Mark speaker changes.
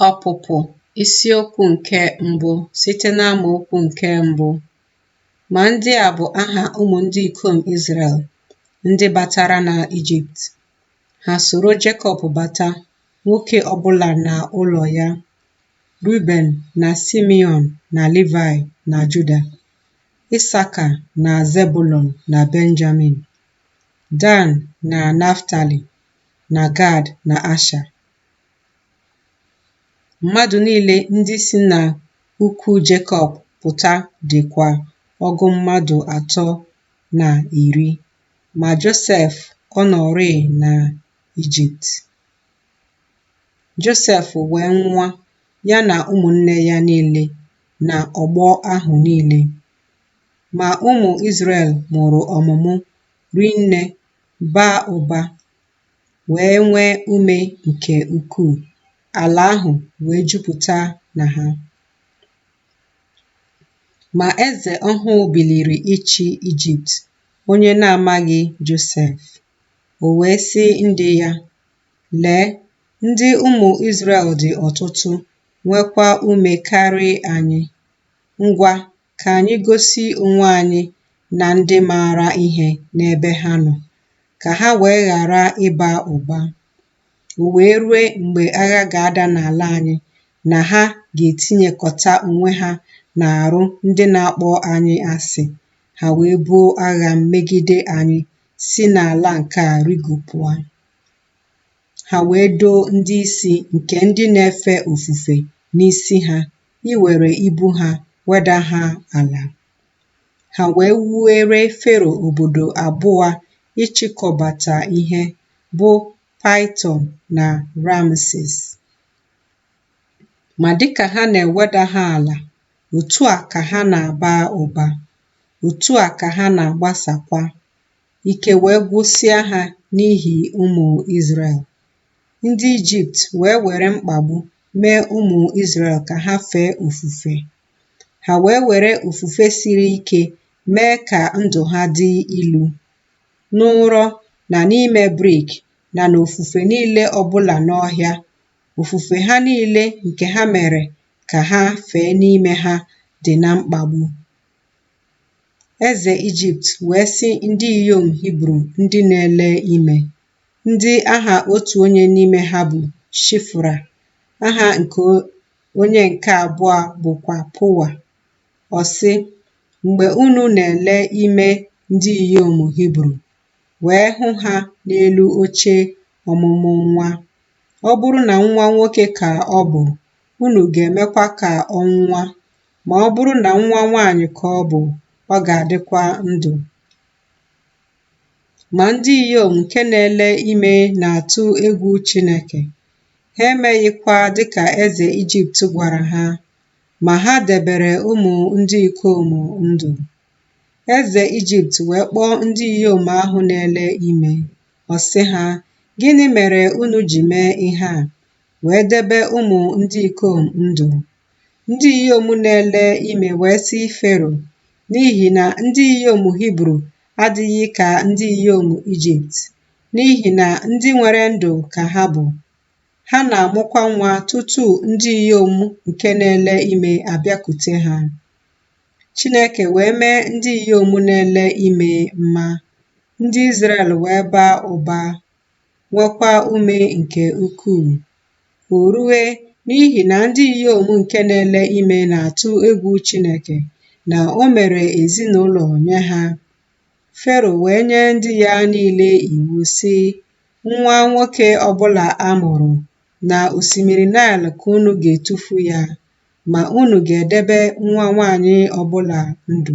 Speaker 1: Ọpụpụ isi okwu nke mbụ site n'amaokwu nke mbụ. Ma ndị a bụ aha ụmụ ndị ikom Izrel ndị batara na Ijipt. Ha soro Jekọb bata, nwoke ọbụla na ụlọ ya, Ruben na Simeon na Livai na Juda, Isaka na Zebulon na Benjamin, Dan na Naftali, na Gad na Asha. Mmadụ niile ndị si na ukwu Jekọb pụta dịkwa ọgụ mmadụ atọ na iri, ma Josef ọ nọrịị na Ijipt. Josef wee nwụa, ya na ụmụnne ya niile na ọgbọ ahụ niile. Ma ụmụ Izrel mụrụ ọmụmụ rie nne baa ụba, wee nwee ume nke ukwuu, ala ahụ wee jupụta na ha. Ma eze ọhụụ biliri ịchị Ijipt, onye na-amaghị Josef. O wee sị ndị ya, Lee, ndị ụmụ Izrel dị ọtụtụ, nwekwa ume karị anyị. Ngwa, Ka anyị gosi onwe anyị na ndị maara ihe n'ebe ha nọ, ka ha wee ghara ịba ụba. O wee rue mgbe agha ga-ada n'ala anyị na ha ga-etinyekọta onwe ha n'arụ ndị na-akpọ anyị asị, ha wee buo agha megide anyị, si n'ala nke a rigopụa. Ha wee doo ndị isi nke ndị na-efe ofufe n'isi ha iwere ibu ha weda ha ala. Ha wee wuere Fero obodo abụa ịchịkọbata ihe, bụ Paịtọn na Ramses. Ma dịka ha na-eweda ha ala, otu a ka ha na-aba ụba, otu a ka ha na-agbasakwa, ike wee gwụsịa ha n'ihi ụmụ Izrel. ndị Ijipt wee were mkpagbu mee ụmụ Izrel ka ha fee ofufe. Ha wee were ofufe siri ike mee ka ndụ ha dị ilu. N'ụrọ na n'ime brik na n'ofufe niile ọbụla n'ọhịa, ofufe ha niile nke ha mere ka ha fee n'ime ha dị na mkpagbu. Eze Ijipt wee sị ndị inyom Hibru ndị na-ele ime, ndị aha otu onye n'ime ha bụ Shifra, aha nke onye nke abụọ bụkwa Pụa. Ọ sị, Mgbe unu na-ele ime ndị inyom Hibru, wee hụ ha n'elu oche ọmụmụ nwa, ọ bụrụ na nwa nwoke ka ọ bụ, unu ga-emekwa ka ọ nwụa, ma ọ bụrụ na nwa nwaanyị ka ọ bụ, ọ ga-adịkwa ndụ. Ma ndị inyom nke na-ele ime na-atụ egwu Chineke, ha emeghịkwa dịka eze Ijipt gwara ha, ma ha debere ụmụ ndị ikom ndụ. Eze Ijipt wee kpọọ ndị inyom ahụ na-ele ime, ọ sị ha, Gịnị mere unu ji mee ihe a, wee debe ụmụ ndị ikom ndụ? Ndị inyom na-ele ime wee sị Fero, N'ihi na ndị inyom Hibru adịghị ka ndị inyom Ijipt, n'ihi na ndị nwere ndụ ka ha bụ, ha na-amụkwa nwa tutu ndị inyom nke na-ele ime abịakute ha. Chineke wee mee ndị inyom na-ele ime mma, ndị Izrel wee baa ụba nwekwa ume nke ukwuu. O rue n'ihi na ndị inyom nke na-ele ime na-atụ egwu Chineke na o mere ezinụlọ nye ha. Fero wee nye ndị ya niile iwu, sị, Nwa nwoke ọ bụla a mụrụ na osimiri Naịl ka unu ga-etufu ya, ma unu ga-edebe nwa nwaanyị ọ bụla ndụ.